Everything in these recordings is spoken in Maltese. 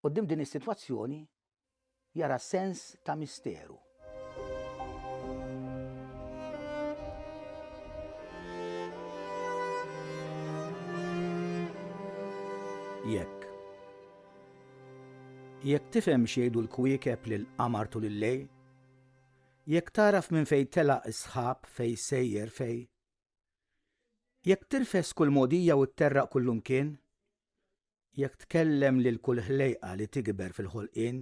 Quddiem din is-sitwazzjoni jara sens ta' misteru. Jekk. Jekk tifhem x'jgħidu l-kwiekeb lill-qamar tul il-lejl, jekk tagħraf minn fejn telaq is-sħab fejn sejjer fej, jekk tirfes kull mogħdija u tterraq kull imkien, Jekk tkellem lil kull ħlejqa li tikber fil-ħolqien,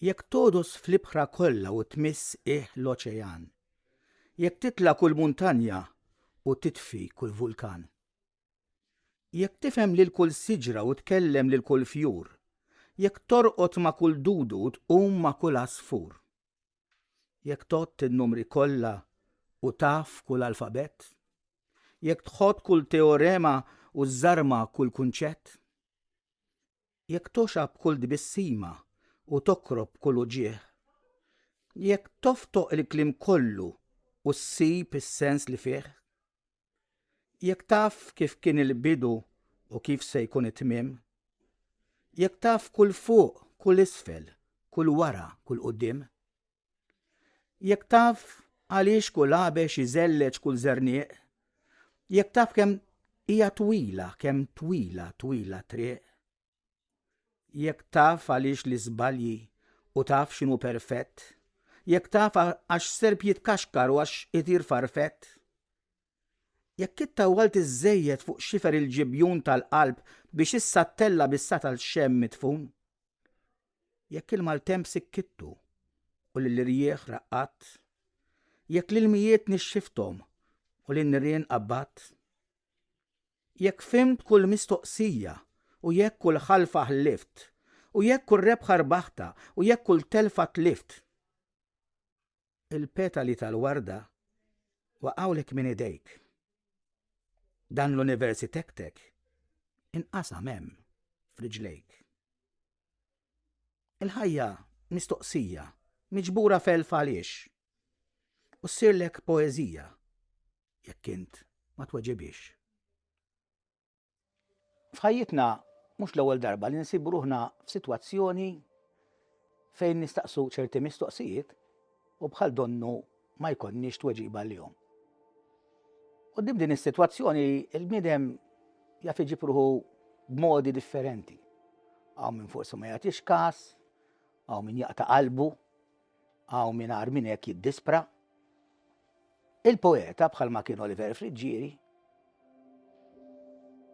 jekk togħdos fl-ibħra kollha u tmiss ih l-oċean, jekk titla' kull muntanja u titfi kull vulkan. Jekk tifhem lil kull siġra u tkellem lil kull fjur, jekk torqod ma' kull dudu u tqum ma' kull għasfur. Jekk tgħodd in-numri kollha u taf kull alfabett? Jekk tħodd kull teorema u żżarma kull kunċett? Jekk toxab kull tbissima u tokrob kull uġigħ? Jekk toftoq il-kliem kollu u ssib is-sens li fih? Jekk taf kif kien il-bidu u kif se jkun it-tmiem, jekk taf kull fuq, kull isfel, kull wara, kull quddiem, jekk taf għaliex kull għabex iżelleġ kull żernieq, jekk taf kemm hija twila, kemm twila, twila triq, Jekk taf għaliex li żbalji u taf x'inhu perfett, jekk taf għax serp jitkaxkar u għax itir farfett, jekk ittawwalt iżżejjed fuq xifer il-ġibjun tal-qalb biex issa ttella' bis-sa tal-xemm midfun, jekk il-maltemp sikkittu u lill-irjieħ raqqadt, jekk l-ilmijiet nixxifthom u lin-nirien qabbadt, Jekk fhimt kull mistoqsija, u jekk kull ħalfa ħlift, u jekk kull rebħa rbaħtha, u jekk kull telfa tlift. Il-petali tal-warda waqgħulek minn idejk. Dan l-univers itektek inqasam hemm f'riġlejk. Il-ħajja mistoqsija, miġbura f'elf għaliex, u ssirlek poeżija jekk int ma tweġibhiex. F'ħajjitna mhux l-ewwel darba li nsibu ruħna f'sitwazzjoni fejn nistaqsu ċerti mistoqsijiet u bħal donnu ma jkollniex tweġiba għalihom. Qudiem din is-sitwazzjoni il-bniedem jaf iġib ruħu b'modi differenti. Għaw minn forsi ma jagħtix każ, għaw minn jaqta' qalbu, Hawn min agħar minn hekk jiddispra. Il-poeta, bħalma kien Oliver Friggieri,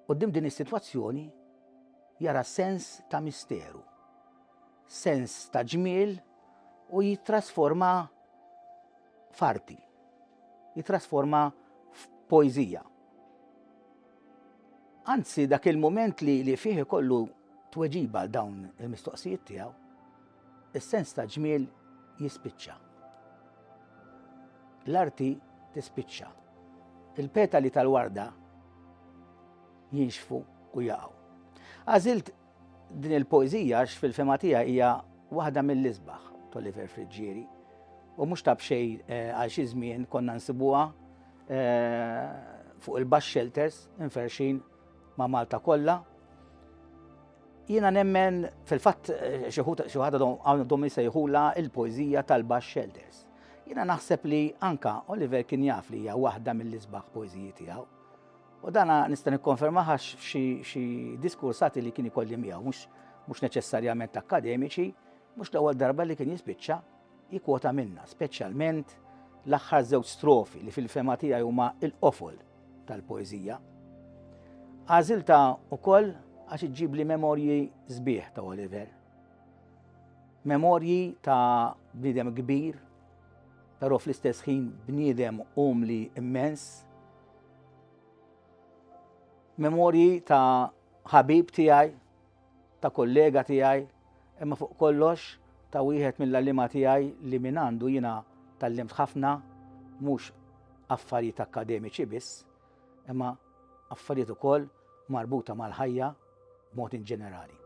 quddiem din is-sitwazzjoni jara sens ta' misteru, sens ta' ġmiel u jittrasforma f'arti, jittrasforma f'poeżija. Anzi, dak il-mument li, li fih ikollu tweġiba għal dawn il-mistoqsijiet tiegħu, Is-sens ta' ġmiel jispiċċa. L-arti tispiċċa. Il-petali tal-warda jinxfu u jaqgħu. Għażilt din il-poeżija x fil-fema tiegħi hija waħda mill-isbaħ t'Oliver Friġġieri u mhux tab xej eh, għal xi żmien konna nsibuha eh, fuq il-bax shelters inferxin ma' Malta kollha Jiena nemmen fil-fatt xi ħadd għandhom jsejħulha l-poeżija tal-Bax Shelters. Jiena naħseb li anka Oliver kien jaf li hija waħda mill-isbaħ poeżiji tiegħu. U dana nista' nikkonferma ħax xi diskursati li kien ikolli miegħu mhux neċessarjament akkademiċi, mhux l-ewwel darba li kien jispiċċa Jikkwota minnha speċjalment l-aħħar żewġ strofi li fil-fehma tiegħi huma l-qofol tal-poeżija. Għażiltha wkoll għax iġġibli memorji sbieħ ta' Oliver. Memorji ta' bniedem kbir, però fl-istess ħin bniedem umli immens. Memorji ta' ħabib tiegħi ta' kollega tiegħi, imma fuq kollox ta' wieħed mill-għalliema tiegħi li mingħandu jiena tgħallimt ħafna, mhux affarijiet akkademiċi biss, imma affarijiet ukoll marbuta mal-ħajja b'mod inġenerali.